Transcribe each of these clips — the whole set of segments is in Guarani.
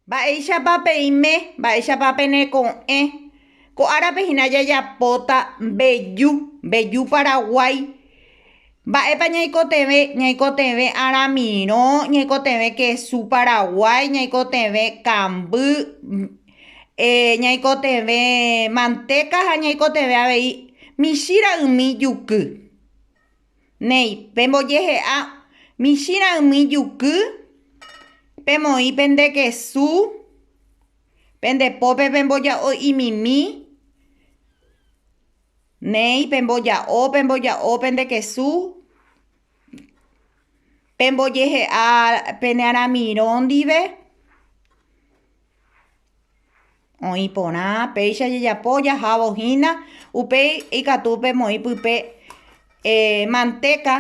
Mba'éichapa peime, mba'éichapa peneko'ẽ, ko árape hína jajapóta mbeju, mbeju paraguái, mba'épa ñaikotevẽ, ñaikotevẽ aramirõ, ñaikotevẽ kesu paraguái, ñaikotevẽ kamby, ñaikotevẽ mantéka ha ñaikotevẽ avei michĩ ra'ymi juky. Néi, pembojehe'a michĩrã umi juky, pemoĩ pende kesu, pende pópe pemboja'o imimi, néi, pemboja'o, pemboja'o pende kesu, pembojehe'a pene aramirõ ndive. Oĩ porã péicha jajapo jahávo hína, upéi ikatu pemoĩ pype mantéka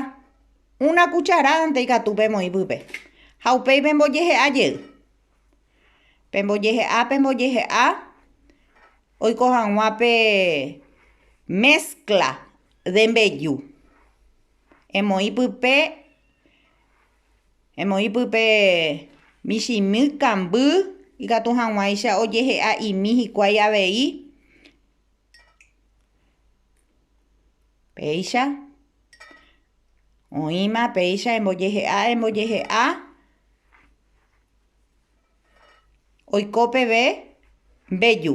una kucharádante ikatu pemoĩ pype. Ha upéi pembojehe'a jey, pembojehe'a, pembojehe'a oiko hag̃ua pe méskla de mbeju emoĩ pype. Emoĩ pype michĩmy kamby ikatu hag̃uáicha ojehe'a imi hikuái avei, péicha, oĩma péicha embojehe'a embojehe'a oiko peve mbeju.